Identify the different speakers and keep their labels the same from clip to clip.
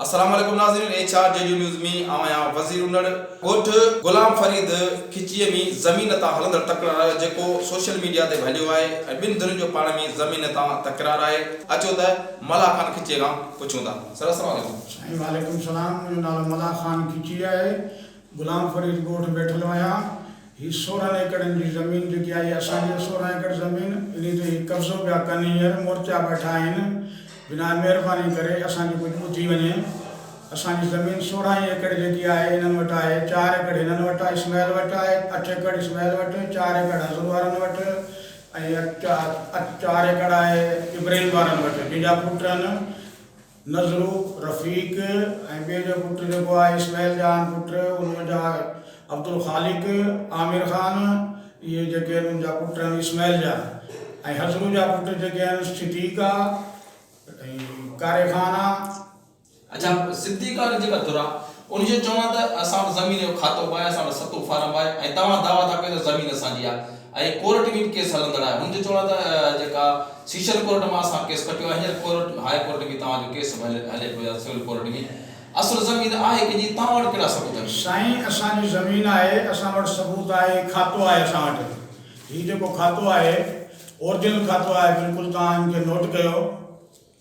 Speaker 1: السلام عليڪم ناظرين H R G D news مين آئون آهيان وزير انڙ ڳوٺ غلام فريد کچيء مين زمين تان هلندڙ تڪرار آهي جيڪو سوشل ميڊيا تي به هليو آهي ۽ ٻن ڌرين جو پاڻ مين زمين تان تڪرار آهي اچو ته ملاح خان کچيء کان پڇون ٿا سر السلام عليڪم. سائين وعليڪم سلام
Speaker 2: منهنجو نالو ملاح خان کچي آهي غلام فريد ڳوٺ بيٺل هيان هي سورهن ايڪڙن جي زمين جيڪي آهي اسان جي سورهن ايڪڙ زمين انهي تي هي قبضو پيا ڪن هينئر مورچا بيٺا آهن بنان مهرباني ڪري اسان جي ڪجهه ٻڌي وڃي اسان جي زمين سورهن ئي ايڪڙ جيڪي آهي انهن وٽ آهي چار ايڪڙ هنن وٽ آهي اسماعيل وٽ آهي اٺ ايڪڙ اسماعيل وٽ چار ايڪڙ حضور وارن وٽ ۽ چار ايڪڙ آهي ابراهيم وارن وٽ جن جا پٽ آهن نذرو، رفيق ۽ ٻئي جو پٽ جيڪو آهي اسماعيل جان پٽ ان منجها عبدالخالق، عامر خان اهي جيڪي آهن ان جا پٽ آهن اسماعيل جان ۽ حضرو جا پٽ جيڪي آهن صديق آ ۽ ڪاري خان آ. اڇا
Speaker 1: صديق آ ان جيڪا ڌر آ ان جو چوڻ آهي ته اسان وٽ زمين جو کاتو به آهي، اسان وٽ ستون فارم به آهي ۽ توهان دعويٰ ٿا ڪيو ته زمين اسان جي آهي ۽ ڪورٽ ۾ به ڪيس هلندڙ آهي، هن جو چوڻ آهي ته جيڪا سيشن ڪورٽ مان اسان ڪيس کٽيو آهي، هينئر ڪورٽ ۾ هاء ڪورٽ ۾ توهان جو ڪيس به هلي پيو آهي سول ڪورٽ ۾، اصل زمين آهي ڪنهن جي، توهان وٽ ڪهڙا ثبوت آهن؟ سائين اسان جي زمين
Speaker 2: آهي، اسان وٽ ثبوت آهي، هي کاتو آهي اسان وٽ، هي جيڪو کاتو آهي اورجنل کاتو آهي بلڪل توهان ان کي نوٽ ڪيو.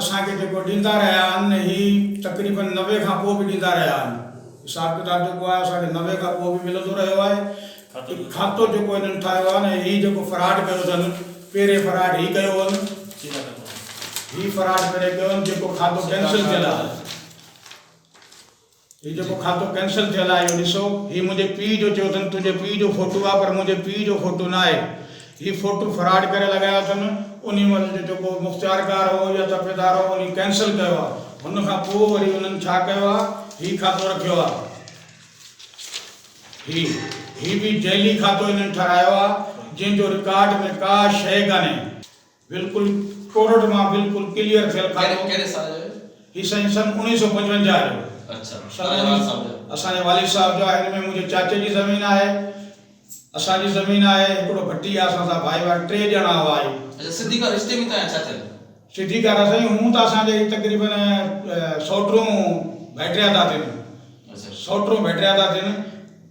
Speaker 2: اسان کي جيڪو ڏيندا رهيا آهن هي تقريبن نوي کان پوء به ڏيندا رهيا آهن حساب ڪتاب جيڪو آهي اسان کي نوي کان پوء به ملندو رهيو آهي هي کاتو جيڪو هنن ٺاهيو آهي نه هي جيڪو فراڊ ڪيو اٿن پهرين فراڊ هي ڪيو هن هي فراڊ پهرين ڪيو هن جيڪو کاتو ڪينسل ٿيل آهي. هي جيڪو کاتو ڪينسل ٿيل آهي اهو ڏسو هي منهنجي پيء جو چيو اٿن تنهنجي پيء جو فوٽو آهي پر منهنجي پيء جو فوٽو نه آهي هي فوٽو فراڊ ڪري لڳايو اٿن انهي مهل جو جيڪو مختيارڪار هو يا ترفيدار هو انهي ڪينسل ڪيو آهي هن کان پوء وري انهن ڇا ڪيو آهي هي کاتو رکيو آهي هي هي به جعلي کاتو انهن ٺهرايو آهي جنهن جو رڪارڊ ۾ ڪا شيء ڪانهي. بلڪل ڪورٽ مان بلڪل ڪليئر ٿيل کاتو. ڪهڙي ڪهڙي سال جو هيو؟
Speaker 1: هي سائين سن اڻيهه
Speaker 2: سؤ پنجونجاهه جو. اڇا
Speaker 1: توهان
Speaker 2: جي والد صاحب جو؟ اسان جي والد صاحب جو آهي هن ۾ منهنجي چاچي جي زمين آهي اسان جي زمين آهي هڪڙو ڀٽي آهي اسان سان ڀائي واري ٽي ڄڻا هئا هي. اڇا
Speaker 1: سڌي ڪار رشتي
Speaker 2: ۾ توهان جا چاچا ڪيو؟ سڌي ڪار سائين هون ته اسان جا هي تقريبن سئوٽون ڀيٽريا ٿا ٿين اڇا سئوٽون
Speaker 1: ڀيٽريا ٿا
Speaker 2: ٿين.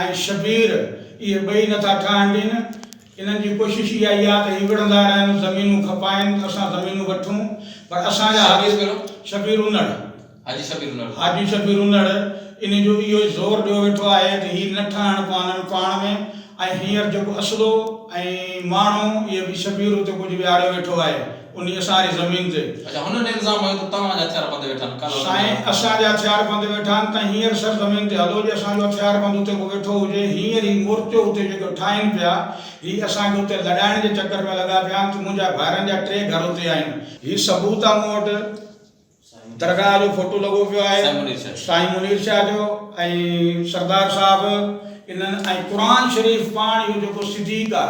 Speaker 2: ۽ شبير اهي ٻئي نٿا ٺاهڻ ڏين. انهن جي ڪوشش اها ئي آهي ته هي وڙهندا رهن، زمينون کپائين، اسان زمينون وٺون، پر اسان جا حاجي شبير انڙ، حاجي شبير انڙ، انهي جو اهو ئي زور ڏيو ويٺو آهي ته هي نه ٺاهڻ پوانن پاڻ ۾، ۽ هينئر جيڪو اسلو ۽ ماڻهو اهي به شبير اتي ڪجهه ويهاريو ويٺو آهي. انهيء سان هي زمين تي. اچا هن ني الزام هنيو ته
Speaker 1: توهان جا هٿيار بند ويٺا آهن، ڪالهه هلندي سائين آهيان.
Speaker 2: اسان جا هٿيار بند ويٺا آهن تنهن هينئر سر زمين تي هلو جي اسان جو هٿيار بند اتي ڪو ويٺو هجي هينئر هي مورچو اتي جيڪو ٺاهين پيا هي اسان کي اتي لڏائڻ جي چڪر ۾ لڳا پيا آهن ته منهنجا ڀائرن جا ٽي گهر اتي آهن هي ثبوت آ مون وٽ. درگاهه جو فوٽو لڳو پيو آهي سائين منير شاهه جو ۽ سردار صاحب انهن ۽ قرآن شريف پاڻ اهو جيڪو صديق آ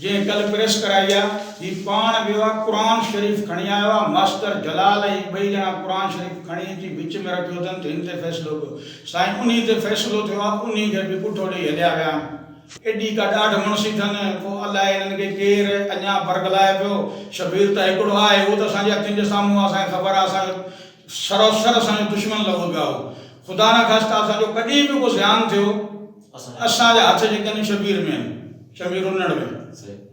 Speaker 2: جنهن ڪل پريس ڪرائي آ هي پاڻ ويو آ قرآن شريف کڻي آيو آ ماستر جلال ۽ ٻئي ڄڻا قرآن شريف کڻي اچي وچ ۾ رکيو اٿن ته هن تي فيصلو ڪيو سائين انهي تي فيصلو ٿيو آ انهي کي به پٺو ڏئي هليا ويا آهن. ايڏي ڪا ڏاڍ مڻسي ٿن، ڪو الاء انهن کي ڪير اڃا برغلائي پيو. شبير ته هڪڙو آهي، اهو ته اسان جي اکين جي سامهون آهي، اسان کي خبر آهي، اسان جو سراسر اسان جو دشمن لڳو پيو آهي. خدا نه خاسته اسان جو ڪڏهن به ڪو زيان ٿيو، اسان جا هٿ جيڪي آهن شبير ۾ آهن، شبير انڙ ۾.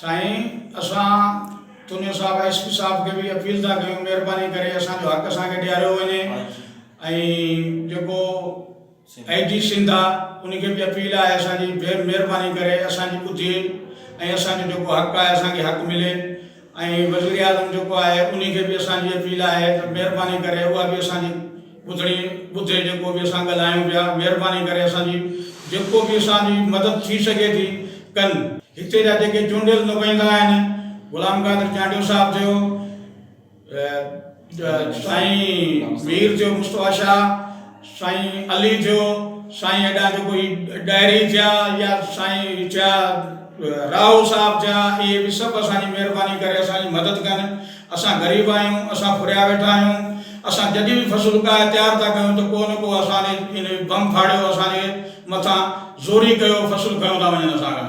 Speaker 2: سائين اسان تونيو صاحب ۽ ايس پي صاحب کي به اپيل ٿا ڪيون مهرباني ڪري اسان جو حق اسان کي ڏياريو وڃي ۽ جيڪو اي جي سنڌ آ ان کي به اپيل آهي اسان جي مهرباني ڪري اسان جي ٻڌي ۽ اسان جو جيڪو حق آهي اسان کي حق ملي ۽ وزيراعظم جيڪو آهي ان کي به اسان جي اپيل آهي ته مهرباني ڪري اها به اسان جي ٻڌڻي ٻڌي جيڪو به اسان ڳالهايون پيا مهرباني ڪري اسان جي جيڪو به اسان جي مدد ٿي سگهي ٿي ڪن. هتي جا جيڪي چونڊيل نمائندا آهن غلام قادر چانڊيو صاحب ٿيو سائين مير ٿيو مصطفيٰ شاهه سائين علي ٿيو سائين ايڏا جيڪو هي ڏاهري ٿيا يا سائين ٿيا راهو صاحب ٿيا اهي به سڀ اسان جي مهرباني ڪري اسان جي مدد ڪن اسان غريب آهيون، اسان ڦريا ويٺا آهيون، اسان جڏهن به فصل اگهائي تيار ٿا ڪيون ته ڪو نه ڪو اسان ڏي ان بم ڦاڙيو، اسان جي مٿان زوري ڪيو، فصل کنيو ٿا وڃن اسان کان.